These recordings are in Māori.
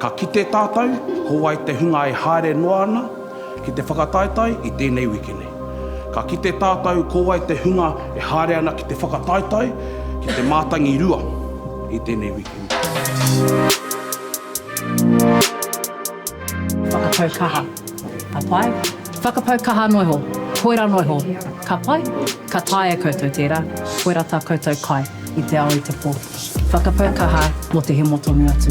Ka kite tātou, ko wai te hunga e haere noa ana ki te whakataetae i tēnei wiki nei. Ka kite tātou ko wai te hunga e haere ana ki te whakataetae ki te mātangi rua i tēnei wiki nei. Whakapau kaha, ka pai? Whakapau kaha noa iho, koirā noa iho, ka pai? Ka taea koutou tērā, koirā tā koutou kai i te ao i te pō. Whakapau kaha mō te hemo tonu atu.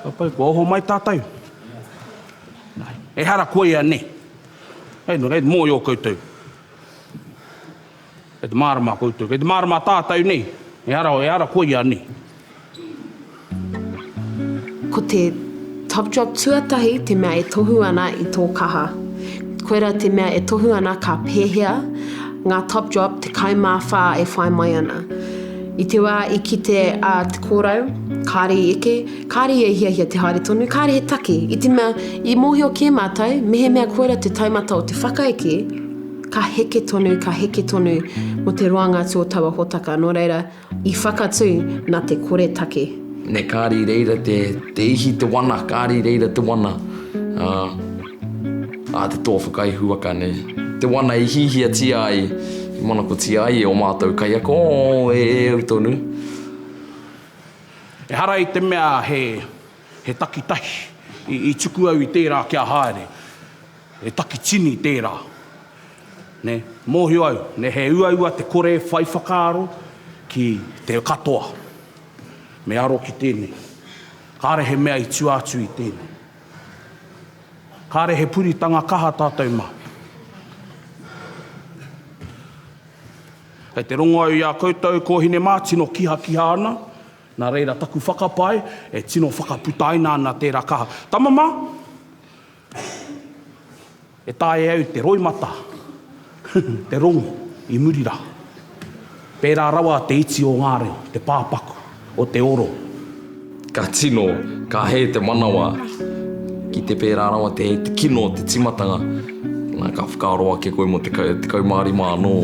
Tātou, kua oho mai tātou. Ehara koia ne. Hei nō reira, mōio koutou. Kei te mārama koutou, kei te mārama tātou nei, ehara, ehara koia ne. Ko te top drop tuatahi te mea e tohu ana i tō kaha. Koirā te mea e tohu ana ka pēhea ngā top drop 14 e whai mai ana. I te wā i kite a Te Kōrau, kāre i eke, kāre ia i hiahia te haere tonu, kāre he take, i te mea, i mōhio kē mātou, mehemea koirā te taumata o te whakaeke, ka heke tonu, ka heke tonu mō te roanga atu o taua hōtaka, nō reira, i whakatū nā te koretake. Nei kāre i reira te ihi, te wana, kāre i reira te wana. A te toa whakaihuwaka nei. Te wana i hihiatia ai, i manakotia ai e o mātou kaiako, oh, e au tonu. Ehara i te mea he, he takitahi i, i tuku au i tērā kia haere. He takitini tērā. Nē, mōhio au, nē, he uaua te kore whai whakaaro ki te katoa. Me aro ki tēnei. Kāre he mea i tua atu i tēnei. Kāre he puritanga kaha tātou mā. Kei te rongo au i a koutou kōhine mā, tino kihakiha ana, nā reira taku whakapae e tino whakaputaina ana tērā kaha. Tama mā! E taea au te roimata, te rongo i muri rā. Pērā rawa te iti o ngā reo, te pāpaku o te oro. Ka tino, ka hē te manawa. Ki te pērā rawa te hē, te kino o te tīmatanga. Nā, ka whakaaro ake koe mō te kaumārima anō,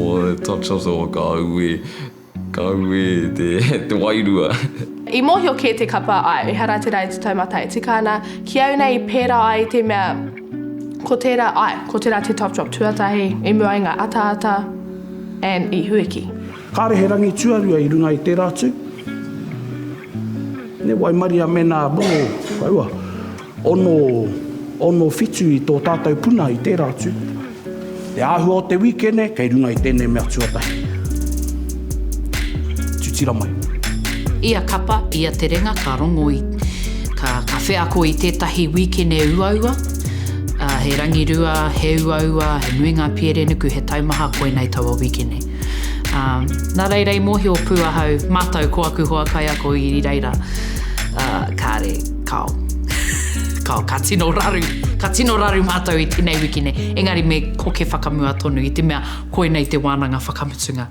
touch of the, ka auē. Ka ū e te wairua. I mōhio kē te kapa āe, ehara tērā e te taumata e tika ana, ki au nei pērā ai te mea ko tērā, āe, ko tērā te top drop tuatahi i mua i ngā ataata and i Huiki. Kāre he rangi tuarua i runga i tērā tū. Ne waimaria mēnā, boo, whaua. Ono, ono whitu i tō tātou puna i tērā atu. Te āhua o te wīkene kei runga i tēnei mea tuatahi. Tutira mai. Ia kapa, ia terenga ka rongo i, ka, ka wheako i tētahi wīkene uaua, ā, he rangirua, he uaua, he nui ngā pierenuku, he taumaha, koinei taua wīkene. Ā, nā reira i mōhio pū ahau, mātau ko aku hoa kaiako i reira, ā, kāre. Kao. Kao, ka tino raru, ka tino raru mātou i tēnei wiki nei. Engari me koke whakamua tonu i te mea koinei te wānanga whakamutunga.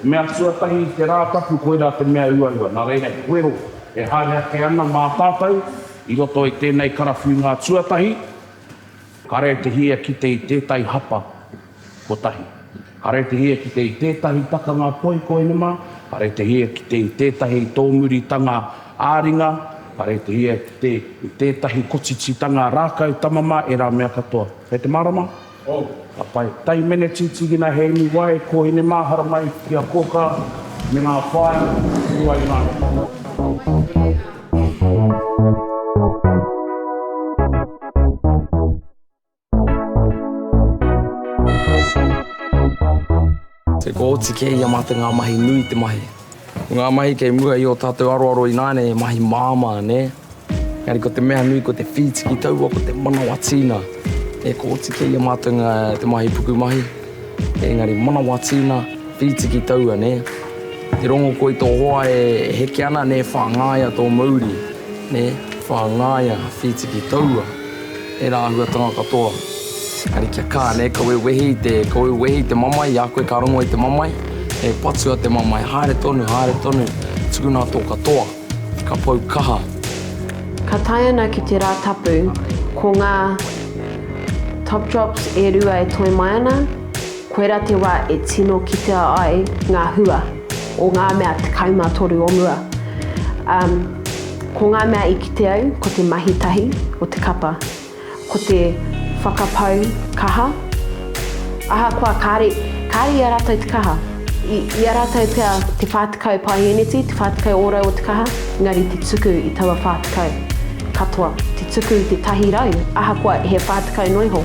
Te mea tuatahi i te Rātapu koirā te mea uaua, nā reira he wero e haere ake ana mā tātou i roto i tēnei karawhiunga tuatahi, kare te hia kite i tētahi hapa kotahi, kare te hia kite i tētahi takanga toi koinema, kare te hia kite i tētahi tōmuritanga ā-ringa, kare te hia kite i tētahi kotititanga rākau tamama, ērā mea katoa. Kei te mārama? Oh, ka pai. Tai Meneti, Tigina Heini Wai, Kohine Mahara mai ki a Koka me nga whaea i rua i nga He kooti kē i a mātou ngā mahi nui te mahi. Ko ngā mahi kei mua i ō tātou aroaro ināianei he mahi māmā, nē? Engari ko te mea nui ko te whītiki taua ko te manawa tīna. He kooti kē i a mātou ngā te mahi pukumahi, engari manawa tīna, whītiki taua, nē? Te rongo koe i tō hoa e heke ana, nē, whāngaia tō mauri, nē, whāngaia, whītiki taua. Tērā āhuatanga katoa. Engari kia kā, nē, ka wewehi i te, ka wewehi i te mamae, i a koe ka rongo i te mamae, he patua te mamae, haere tonu, haere tonu, tukuna tō katoa, ka pau kaha. Ka tae ana ki te rā tapu, ko ngā Topdrops e rua e toe mai ana. Koirā te wā e tino kitea ai ngā hua o ngā mea 13 o mua. Ā, ko ngā mea i kite au ko te mahi tahi o te kapa, ko te whakapau kaha. Ahakoa kāre, kāre i a rātou te kaha, i, i a rātou pea te whā tekau paeheneti, te whā tekau ōrau o te kaha, engari te tuku i taua whā tekau katoa, te tuku i te tahi rau, ahakoa he whā tekau noa iho.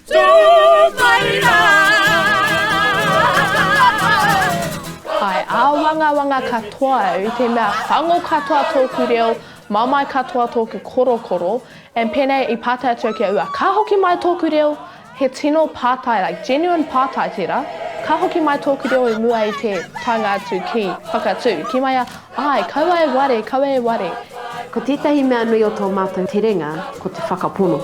Tō mai rā! Hai āwangawanga katoa au i te mea whango katoa tōku reo, mamae katoa tōku korokoro, and pēnei i pātai atu au ki a ua, ka hoki mai tōku reo, he tino pātai, like genuine pātai tērā, ka hoki mai tōku reo i mua i te taenga atu ki Whakatū, ki mai a, āe, kaua e ware, kaua e ware. Ko tētahi mea nui o tō mātou terenga, ko te whakapono.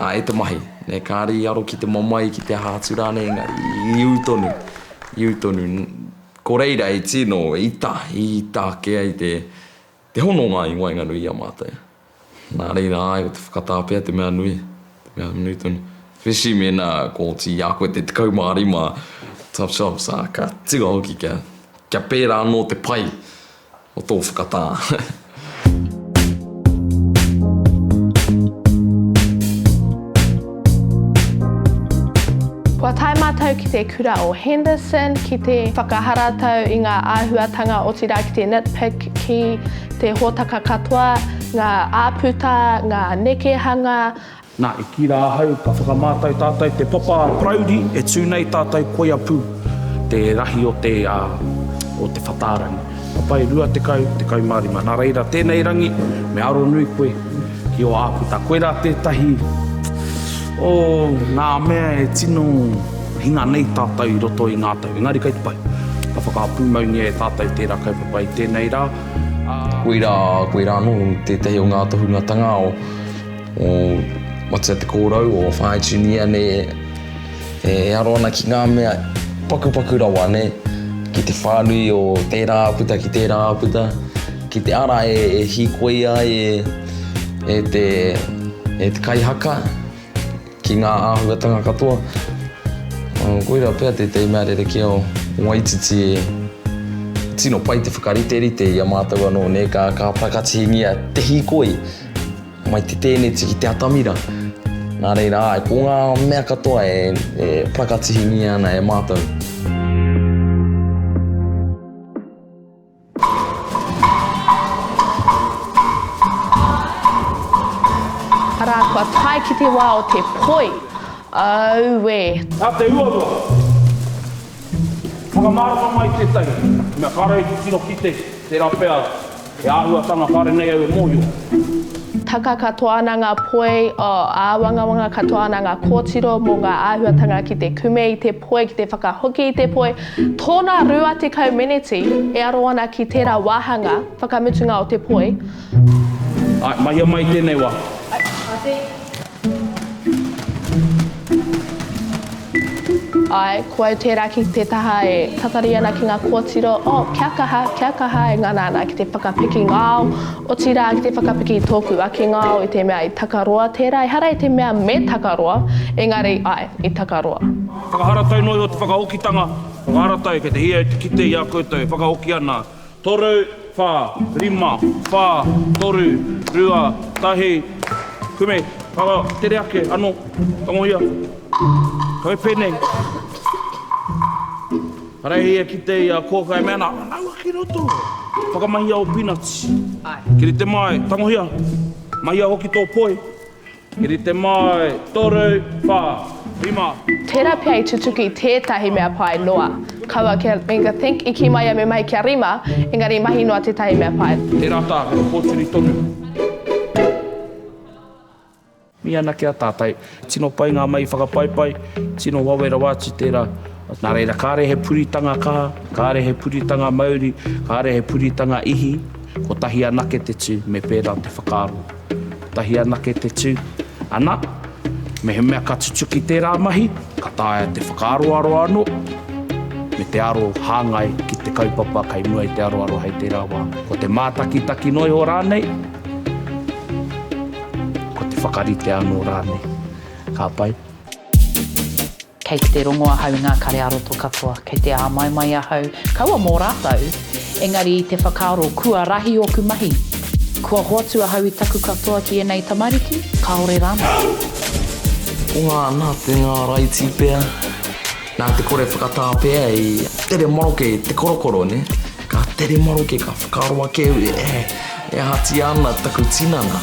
Ā, e te mahi. Nē, kāre i aro ki te mamae, ki te aha atu rānei, engari i ū tonu, i ū tonu. Ko reira i tino ita, i ita ake ai te, te hononga i waenganui i a mātou. Nā reira, āe, ko te whakatā pea te mea nui, te mea nui tonu. Especially mēnā kua oti i a koe te 15, tough jobs, ā, ka tua hoki kia, kia pērā anō te pai. o tō whakatā. Kua tae mātou ki te kura o Henderson ki te whakaharatau i ngā āhuatanga otirā ki te nitpick ki te hōtaka katoa, ngā āputa, ngā nekehanga, Na, i ki ra ahau, ka whakamātau tātou te papa a Parauri e tū nei tātou koia pū te rahi o te, a, o te whatārangi. Papai, 20, 15. Na reira, tēnei rangi, me aro nui koe ki o Ākuta. Koe ra tētahi o ngā mea e tino hinga nei tātou i roto i ngā tau. Engari kei te pai, ka whakapūmaungia e tātou tērā kaupapa i tēnei rā, a. Koe ra, koe ra anō tētahi o ngā tohungatanga o. O Matea Te Kōrau, o Whāitunia ne, e aro ana ki ngā mea pakupaku rawa ne, ki te whānui o tērā āputa ki tērā āputa, ki te ara e hīkoia ai e, e te, e te kaihaka ki ngā āhuatanga katoa. Koirā pea tētahi mea rerekē o Waititi e tino pai te whakariterite i a mātou anō ne, ka, ka whakatihingia te hīkoi. Mai te tēneti ki te atamira. Nā reira, āe, ko ngā mea katoa e, e parakatihingia ana e mātou. kua tae ki te wā o te poi. Auē! Nā te uarua, whakamārama mai tētahi, mea kāre i tino kite, tērā pea He āhuatanga kāre nei au e mōhio. Taka katoa ana ngā poi, āwangawanga katoa ana ngā kōtiro mō ngā āhuatanga ki te kume i te poi, ki te whakahoki i te poi. Tōna 20 meneti e aro ana ki tērā wāhanga whakamutunga o te poi. Āe, mahia mai i tēnei wā. Āe, āe. Ae, ko au tērā ki te taha e tatari ana ki ngā kōtiro, oh, kia kaha, kia kaha e ngana ana ki te whakapiki ngao, otirā, ki te whakapiki tōku ake ngao i te mea i takaroa tērā, ehara i te mea me takaroa, engari, ae, i takaroa. Whakaharatau noa iho te whakaokitanga, whakaharatau kei te hia e te kite i a koutou e whakaoki ana Toru, wha, rima, wha, toru, rua, tahi, kume, karo, tere ake, ano, tangohia, koi penei. Karehi e kite i a Koka e mea ana, Naua ki roto, whakamahia o Peanuts. Ai. Kirite mai, tangohia, mahia hoki to poi. I rite mai, toru, wha, rima. Tera pea i tutuki tetahi mea pai noa. Kaua kia i think i ki mai ia me mahi kia rima, engari i mahi noa tetahi mea pai. Tera ta, he koturi tonu. Mi ana ki a tatai. Tino pai nga mahi whakapaipai, tino wawe rawa atu tera. Nā reira, kāre he puritanga kaha, kāre he puritanga mauri, kāre he puritanga ihi, kotahi anake te tū, me pērā te whakaaro. Kotahi anake te tū, ana, mehemea ka tutuki tērā mahi, ka taea te whakaaroaro anō, me te aro hāngai ki te kaupapa kei mua i te aroaro hei tērā wā. Ko te mātakitaki noa iho rānei, ko te whakarite anō rānei. Ka pai? Kei te rongo ahau i ngā kare ā-roto katoa, kei te āmaimai ahau, kaua mō rātou, engari i te whakaaro kua rahi ōku mahi, kua hoatu ahau i taku katoa ki ēnei tamariki, kāore rānei. Ko ngā nā te ngā raiti pea, nā te kore whakatā pea i tere maroke te korokoro, nē? Ka tere maroke, ka whakaaro ake au, ē, e ahatia ana taku tinana?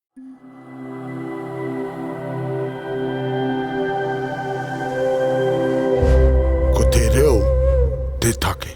Ko te reo te take.